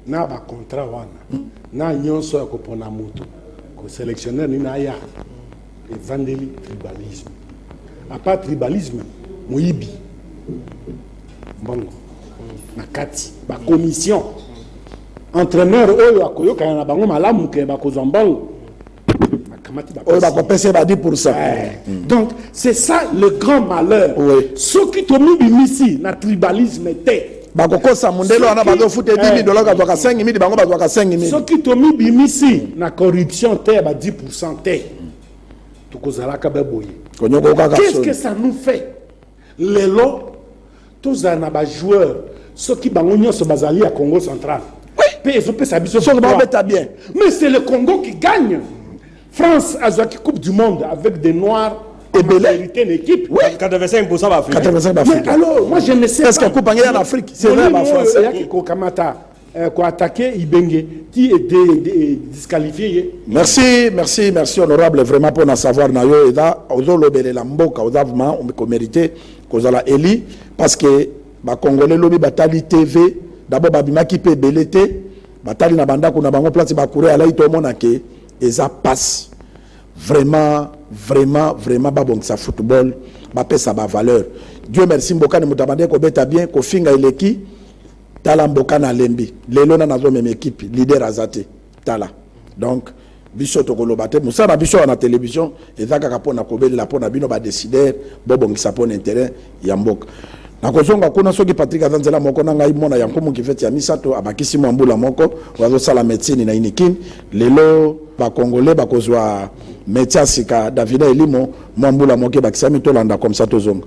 Na ba contrat wana. Na nyonso ya kopona moto. Ko selectionneur nini aya. Evandeli tribalisme. A part tribalisme, moyibi. Mbongo. Na kati. Ba commission. Entraîneur oyo akoyokana na bango malamu ke bakozwa mbongo. oyo bakopesa ye ba 10 pourcent donc c'est ça le grand malheur soki tomibimisi na tribalisme te bakokosa mondele wana bazofuta edimi eh, eh, dolaka azwaka 5 mili bango bazwaka 5 mili soki tomibimisi na corruption te ya ba 10 pourcent te tokozalaka baboye konyokokaka qu'est ce que ça nous fait lelo tozala na bajoueur soki bango nyonso bazali ya congo central mpe ezopesa biso soki babeta bien mais c'est le congo qui gagne France azwaki coupe du monde avec des noirs ebele hérité une équipe oui 85 pour ça va africain 85 ba africain alors moi je ne sais parce que coupe en Afrique c'est vrai ba français ya ki kokamata euh, ko attaquer Ibenge qui est disqualifié merci merci merci honorable vraiment pour na savoir na yo eda ozo lobele la mboka oza vraiment on ko mériter kozala élu parce que ba congolais lobi batali TV d'abord babimaki pe belete batali na bandako na bango place ba courir alai to mona ke Eza pasi vraiment vraiment vraiment ba bongisa football ba pesa ba valeur Dieu merci mbokani mutu abandaki ko beta bien ko finga eleki tala mbokani alembi lelo na nazo meme equipe leader aza te tala donc biso tokoloba te mosala na biso wana na television eza kaka mpona kobelela mpona bino badesider bobongisa mpona interet ya mboka. Nakozonga kuna soki Patrick aza nzela moko na ngai mwana ya nkumu kifeti ya misato abakisi mwa mbula moko oyo azosala medecine na inikin lelo bakongole bakozwa metia ya sika davida elimo mwa mbula moko ebakisami tolanda komsa tozonga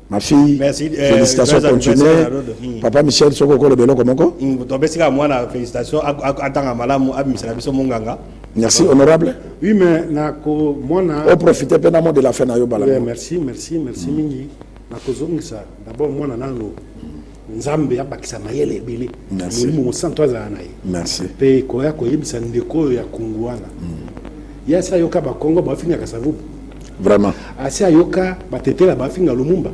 ma fille Merci, eh, félicitations Grace continue anniversaire na Rodo. Mm. papa michel soki okoloba eloko moko Mm, topesi kaka mwana félicitation ak- ak- atanga malamu abimisa na biso monganga merci honorable Oui, mais nako mwana oprofite mpe na mot de la fin na yo bala Ouais, merci merci merci mingi nakozongisa d'abord mwana nano nzambe abakisa mayele ebele molimo mosantu azala na ye mpe koya koyebisa ndeko oyo ya kongo wana mm. ye asi ayoka bakongo bafingaka savubu vraiment asi ayoka batetela bafinga lumumba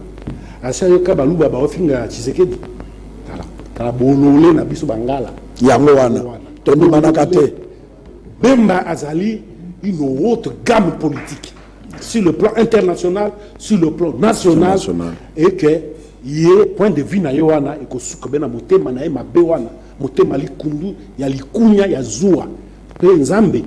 asi ayoka baluba baofinga chisekedi tala tala bolole na biso bangala yango wana tondimanaka te bemba azali une autre gamme politique sur le plan international sur le plan national et que ye point de vue na ye wana ekosuka be na motema na ye mabe wana motema likundu ya likunya ya zuwa mpe nzambe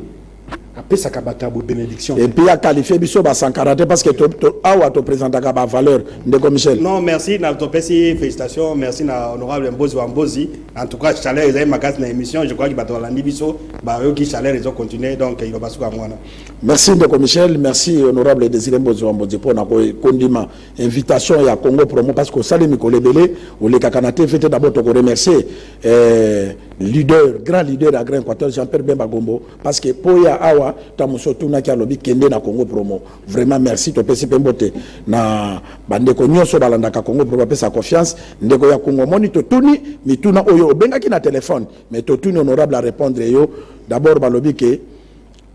apesaka bato ya boye bénédiction et puis akalifie biso basankara te parce que to, to, awa topresentaka bavaleur ndeko michel non merci na topesi félicitation merci na honorable mbozi wa mbozi en tout cas chaleur ezali makasi na émission je crois que bato balandi biso bayoki chaleur ezo continue donc iloba suka yango wana Merci ndeko Michel, merci honorable Desire Mbozo Wambodze mpo na kondima invitation ya Congo Promo parce que osali mikolo ebele olekaka na TV te d'abord toko remercier eh, leader grand leader ya Grand Equateur Jean-Pierre Bemba Gombo parce que mpo ya awa ta moso tunaki alobi kende na Congo Promo vraiment merci topesi mpe mbote na bandeko nyonso balandaka Congo Promo bapesa confiance ndeko ya Congo moni totuni mituna oyo obengaki na telefone mais totuni honorable a répondre yo d'abord balobi ke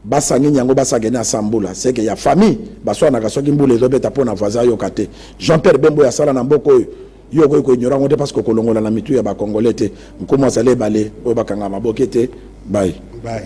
Basa nini yango basa kende na sambula seke ya famille baswanaka soki mbula ezobeta mpo na voisin ayoka te Jean Pierre Bembo ya sala na mboka oyo yo okoki koignora yango te parce que okolongola na mitu ya bakongole te nkumu azali ebale oyo bakanga maboke te bai bai